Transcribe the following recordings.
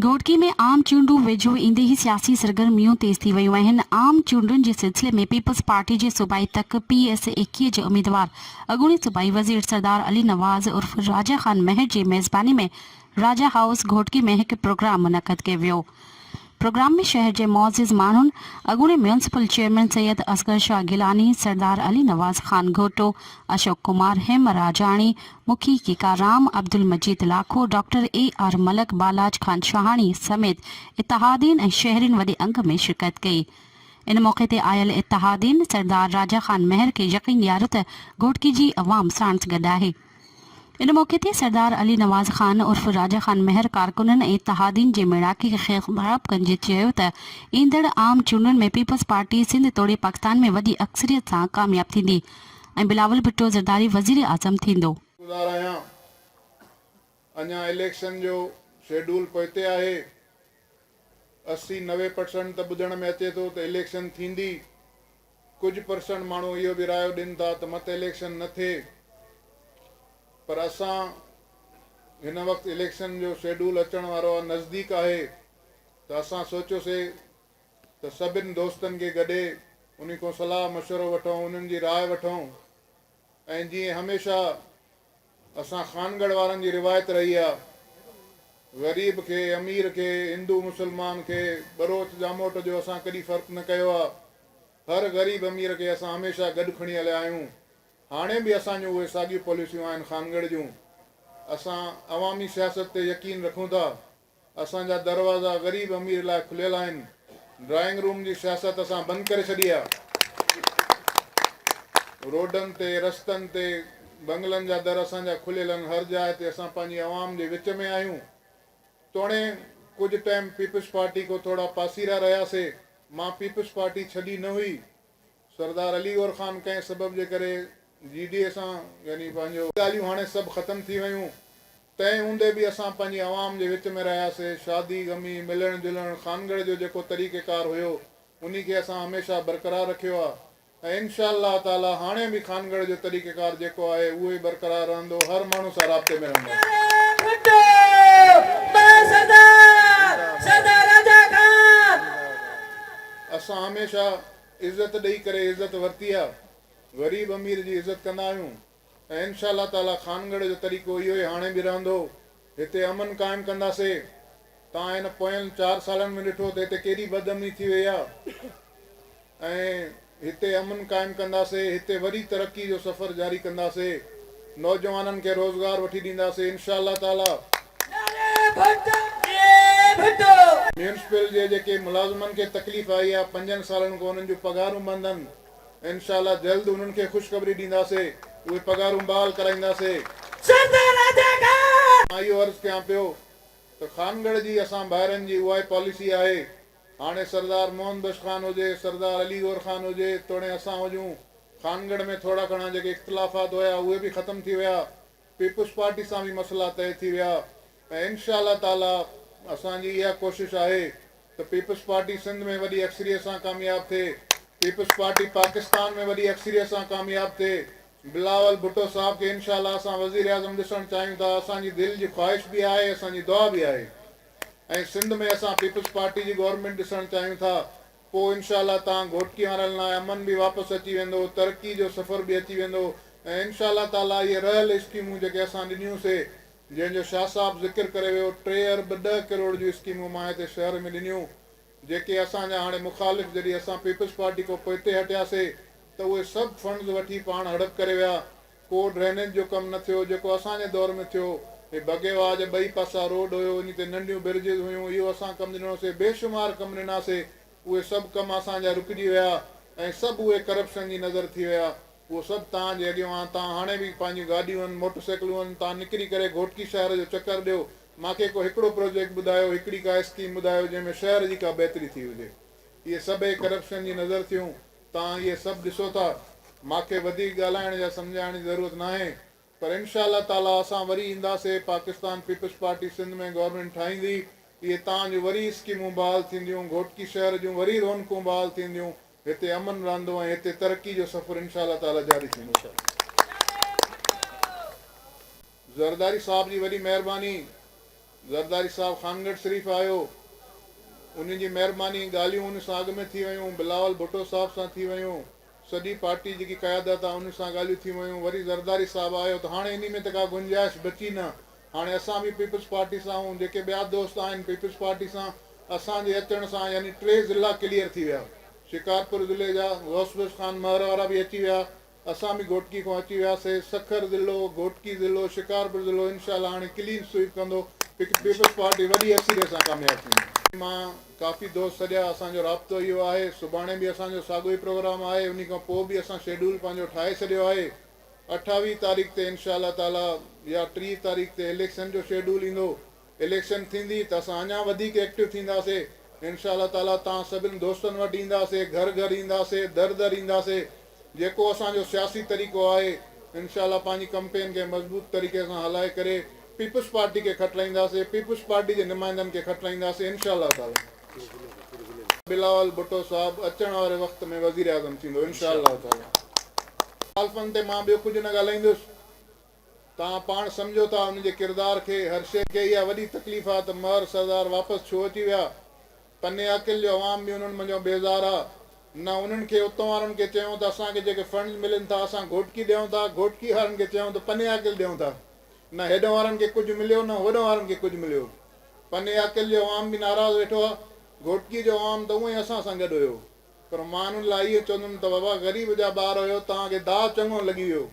گهوٽڪي ۾ عام چونڊون ويجهو ايندي ئي سياسي سرگرميون تيز ٿي ويون آهن، عام چونڊن جي سلسلي ۾ پيپلز پارٽي جي صوبائي تڪ پي ايس ايڪيهه جي اميدوار اڳوڻي صوبائي وزير سردار علي نواز عرف راجا خان مهر جي ميزباني ۾ راجا هائوس گهوٽڪي ۾ هڪ پروگرام منعقد ڪيو ويو پروگرام ۾ شهر جي معزز ماڻهن اڳوڻي ميونسپل چيئرمين سيد اصغر شاهه گيلاني، سردار علي نواز خان گهوٽو، اشوڪ ڪمار هيمراجاڻي، محقق Ram Abdul Majid Lakho, doctor A R Malik, Balach Khan Shahani سميت اتحادين ۽ شهرين وڏي انگ ۾ شرڪت ڪئي. ان موقعي تي آيل اتحادين سردار راجا خان مهر کي يقين ڏياريو ته گهوٽڪي جي عوام ساڻس گڏ آهي. ان موقعي تي سردار علي نواز خان عرف راجا خان مهر ڪارڪنن ۽ اتحادين جي ميڙاڪي کي خطاب ڪندي چيو ته ايندڙ عام چونڊن ۾ پيپلز پارٽي سنڌ توڙي پاڪستان ۾ وڏي اڪثريت سان ڪامياب ٿيندي. ۽ بلاول ڀٽو زرداري وزيراعظم ٿيندو. گذار آهيان اڃا اليڪشن جو شيڊول پوئتي آهي اسي نوي پرسنٽ ته ٻڌڻ ۾ اچي ٿو ته اليڪشن ٿيندي ڪجهه پرسنٽ ماڻهو اهو به رايو ڏين ٿا ته مت اليڪشن نه ٿئي پر اسان هن وقت اليڪشن جو شيڊول اچڻ وارو آهي نزديڪ آهي ته اسان سوچيوسي ته سڀن دوستن کي گڏي انهن کان صلاح مشورو وٺون، انهن جي راء وٺون ۽ جيئن هميشه اسان خانڳڙهه وارن جي روايت رهي آ، غريب کي، امير کي، هندو مسلمان کي، ٻروچ ڄاموٽ جو اسان ڪڏي فرق نه ڪيو آ، هر غريب امير کي اسان هميشه گڏ کڻي هليا آهيون، هاڻي به اسان جون اهي ساڳيون پاليسيون آهن خانڳڙهه جون، اسان عوامي سياست تي يقين رکون ٿا. اسان جا دروازا غريب امير لاء کليل آهن، ڊرائنگ روم جي سياست اسان بند ڪري ڇڏي آهي. روڊن تي، رستن تي، بنگلن جا در اسان جا کليل آهن، هر جاء تي اسان پنهنجي عوام جي وچ ۾ آهيون. توڻي ڪجهه ٽائيم پيپلز پارٽي کان ٿورا پاسيرا رهياسي، مان پيپلز پارٽي ڇڏي نه هئي. سردار علي گور خان ڪنهن سبب جي ڪري جي ڊي اي سان يعني پنهنجو. ڳالهيون هاڻي سڀ ختم ٿي ويون. تنهن هوندي به اسان پنهنجي عوام جي وچ ۾ رهياسي. شادي غمي، ملڻ جلڻ، خانڳڙهه جو جيڪو طريقه ڪار هيو انهي کي اسان هميشه برقرار رکيو آ ۽ انشاء الله تعالي هاڻي به خانڳڙهه جو طريقه ڪار جيڪو آهي اهو ئي برقرار رهندو هر ماڻهو سان رابطي ۾ رهنداسين. اسان هميشه عزت ڏئي ڪري عزت ورتي آ غريب امير جي عزت ڪندا آهيون ۽ انشاء الله تعالي خانڳڙهه جو طريقو اهو ئي هاڻي به رهندو هتي امن قائم ڪندا سي توهان هن پوين چار سالن ۾ ڏٺو ته هتي ڪيڏي بد امني ٿي وئي آ ۽ هتي امن قائم ڪندا سي هتي وري ترقي جو سفر جاري ڪندا سي. نوجوانن کي روزگار وٺي ڏينداسين انشاء الله تعالي. نعري ڀٽو جي ڀٽو. ميونسپل جي جيڪي ملازمن کي تڪليف آئي آ پنجن سالن کان انهن جون پگهارون بند هن انشاء الله جلد انهن کي خوشخبري ڏينداسي اهي پگهارون بحال ڪرائينداسي. سردار راجا خان. مان اهو عرض ڪيان پيو ته خانڳڙهه جي اسان ڀائرن جي اهائي پاليسي آهي هاڻي سردار محمد بخش خان هجي، سردار علي گور خان هجي، توڻي اسان هجون، خانڳڙهه ۾ ٿورا گهڻا جيڪي اختلافات هيا، اهي به ختم ٿي ويا، پيپلز پارٽي سان به مسئلا طئي ٿي ويا ۽ انشاء الله تعاليٰ اسان جي اها ڪوشش آهي ته پيپلز پارٽي سنڌ ۾ وڏي اڪثريت سان ڪامياب ٿئي، پيپلز پارٽي پاڪستان ۾ وڏي اڪثريت سان ڪامياب ٿئي، بلاول ڀٽو صاحب کي انشاء الله اسان وزيراعظم ڏسڻ چاهيون ٿا، اسان جي دل جي خواهش به آهي، اسان جي دعا به آهي. ۽ سنڌ ۾ اسان پيپلز پارٽي جي گورنمينٽ ڏسڻ چاهيون ٿا پوء انشاء الله تان گهوٽڪي وارن لاء امن به واپس اچي ويندو ترقي جو سفر به اچي ويندو ۽ انشاء الله تعالي اهي رهيل اسڪيمون جيڪي اسان ڏنيون سي جنهن جو شاهه صاحب ذڪر ڪري ويو ٽي ارب ڏهه ڪروڙ جون اسڪيمون مان هتي شهر ۾ ڏنيون جيڪي اسان جا هاڻي مخالف جڏهن اسان پيپلز پارٽي کان پوئتي هٽياسي ته اهي سڀ فنڊز وٺي پاڻ هڙپ ڪري ويا ڪو ڊرينيج جو ڪم نه ٿيو جيڪو اسان جي دور ۾ ٿيو. هي بگي واهه جا ٻئي پاسا روڊ هيو انهي تي ننڍيون برجز هيون اهو اسان ڪم ڏنو سي بي شمار ڪم ڏنا سي اهي سڀ ڪم اسان جا رڪجي ويا ۽ سڀ اهي ڪرپشن جي نظر ٿي ويا اهو سڀ تان جي اڳيو آن تان هاڻي به پنهنجيون گاڏيون موٽر سيڪلون تان نڪري ڪري گهوٽڪي شهر جو چڪر ڏيو ماکي ڪو هڪڙو پروجيڪٽ ٻڌايو هڪڙي ڪا اسڪيم ٻڌايو جنهن ۾ شهر جي ڪا بهتري ٿي هجي اهي سڀ اهي ڪرپشن جي نظر ٿيون. توهان اهي سڀ ڏسو ٿا. ماکي وڌيڪ ڳالهائڻ يا سمجهائڻ جي ضرورت ناهي پر انشاء الله تعاليٰ اسان وري اينداسي پاڪستان پيپلز پارٽي سنڌ ۾ گورنمينٽ ٺاهيندي اهي تان جو وري اسڪيمون بحال ٿينديون گهوٽڪي شهر جون وري رونقون بحال ٿينديون هتي امن رهندو ۽ هتي ترقي جو سفر انشاء الله تعاليٰ جاري ٿيندو. زرداري صاحب جي وڏي مهرباني زرداري صاحب خانڳڙھ شريف آيو انھي جي مهرباني ڳالھيون ان سان اڳ ۾ ٿي ويون بلاول ڀٽو صاحب سان ٿي ويون سڄي پارٽي جيڪي قيادت آ انھي سان ڳالھيون ٿي ويون وري زرداري صاحب آيو ته هاڻي انھي ۾ ته ڪا گنجائش بچي نه هاڻي اسان به پيپلز پارٽي سان آھون جيڪي ٻيا دوست آھن پيپلز پارٽي سان اسان جي اچڻ سان يعني ٽي ضلعا ڪليئر ٿي ويا شڪارپور ضلعي جا غوث بخش خان مھر وارا به اچي ويا اسان به گهوٽڪي کان اچي وياسي سکر ضلعو گهوٽڪي ضلعو شڪارپور ضلعو انشاء الله هاڻي ڪلين سوئيپ ڪندو پيپلز پارٽي وڏي اڪثريت سان ڪامياب ٿيندي. مان ڪافي دوست سڏيا اسان جو رابطو اهو آهي سڀاڻي به اسان جو ساڳو ئي پروگرام آهي انهي کان پوء به اسان شيڊول پنهنجو ٺاهي ڇڏيو آهي اٺاويهه تاريخ تي انشاء الله تعالي يا ٽيهه تاريخ تي اليڪشن جو شيڊول ايندو اليڪشن ٿيندي ته اسان اڃا وڌيڪ ايڪٽو ٿينداسي انشاء الله تعالي توهان سڀن دوستن وٽ اينداسي گهر گهر اينداسي در در اينداسي جيڪو اسان جو سياسي طريقو آهي انشاء الله پنهنجي ڪمپين کي مضبوط طريقي سان هلائي ڪري پيپلز پارٽي کي کٽرائينداسي پيپلز پارٽي جي نمائندن کي کٽرائينداسي انشاء الله تعالي بلاول ڀٽو صاحب اچڻ واري وقت ۾ وزيراعظم ٿيندو انشاء الله تعالي مخالفن تي مان ٻيو ڪجهه نه ڳالهائيندس توهان پاڻ سمجهو ٿا ان جي ڪردار کي، هر شيء کي اها وڏي تڪليف آ ته مهر سردار واپس ڇو اچي ويا. پني عقل جو عوام به انهن منجهو بيزار آ. نه انهن کي اتون وارن کي چيون ته اسان کي جيڪي فنڊز ملن ٿا اسان گهوٽڪي ڏيون ٿا، گهوٽڪي وارن کي چيون ته پني عقل ڏيون ٿا. نه هيڏون وارن کي ڪجهه مليو نه هوڏون وارن کي ڪجهه مليو. پني عقل جو عوام به ناراض ويٺو آ. گهوٽڪي جو عوام ته اونئين اسان سان گڏ هيو. پر مان انهن لاء اهو چوندم ته بابا غريب جا ٻار هيو توهان کي داء چڱو لڳي ويو.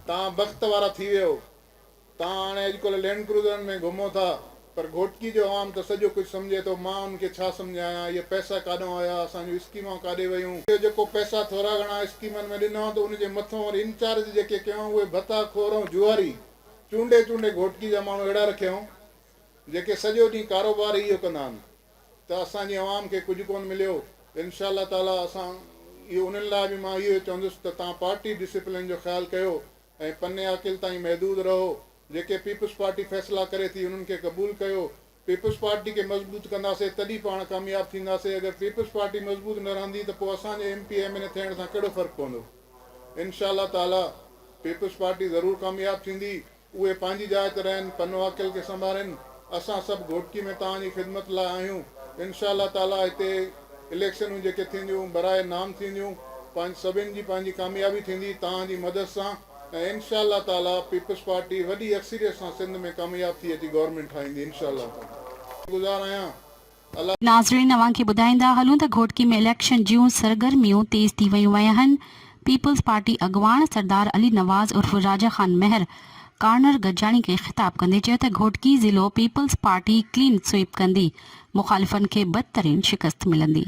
توهان بخت وارا ٿي ويو. توهان هاڻي اڄڪلهه لينڊ ڪروزرن ۾ گهمو ٿا، پر گهوٽڪي جو عوام ته سڄو ڪجهه سمجهي ٿو، مان انهن کي ڇا سمجهايان، اهي پئسا ڪاڏانهن ويا، اسان جون اسڪيمون ڪاڏي ويون، اهي جيڪو پئسا ٿورا گهڻا اسڪيمن ۾ ڏنا ته ان جي مٿون وري انچارج جيڪي ڪيون اهي ڀتا خور ۽ جوئاري چونڊي چونڊي گهوٽڪي جا ماڻهو اهڙا رکيائون، جيڪي سڄو ڏينهن ڪاروبار ئي اهو ڪندا آهن. ته اسان جي عوام کي ڪجهه ڪونه مليو ته انشاء الله تعاليٰ اسان اهو انهن لاء به مان اهو چوندس ته توهان پارٽي ڊسپلين جو خيال ڪيو ۽ پني عاقل تائين محدود رهو جيڪي پيپلز پارٽي فيصلا ڪري ٿي انهن کي قبول ڪيو پيپلز پارٽي کي مضبوط ڪنداسين تڏهن پاڻ ڪامياب ٿينداسين اگر پيپلز پارٽي مضبوط نه رهندي ته پوء اسان جي M P M N A ٿيڻ سان ڪهڙو فرق پوندو انشاء الله تعاليٰ پيپلز پارٽي ضرور ڪامياب ٿيندي اهي پنهنجي جاء تي رهن، پن و عقل کي سنڀارين، اسان سڀ گهوٽڪي ۾ توهان جي خدمت لاء آهيون، انشاء الله تعاليٰ هتي اليڪشنون جيڪي ٿينديون برائي نام ٿينديون، پنهنج سڀن جي پنهنجي ڪاميابي ٿيندي توهان جي مدد سان ۽ انشاء الله تعاليٰ پيپلز پارٽي وڏي اڪثريت سان سنڌ ۾ ڪامياب ٿي اچي گورنمينٽ ٺاهيندي انشاء الله. گذار آهيان ناظرين اوهان کي ٻڌائيندا هلون ته گهوٽڪي ۾ اليڪشن جيون سرگرميون تيز ٿي ويون وياهن، پيپلز پارٽي اڳواڻ سردار علي نواز عرف راجا خان مهر ڪارنر گڏجاڻي کي خطاب ڪندي چيو ته گهوٽڪي ضلعو پيپلز پارٽي ڪلين سوئيپ ڪندي، مخالفن کي بدترين شڪست ملندي.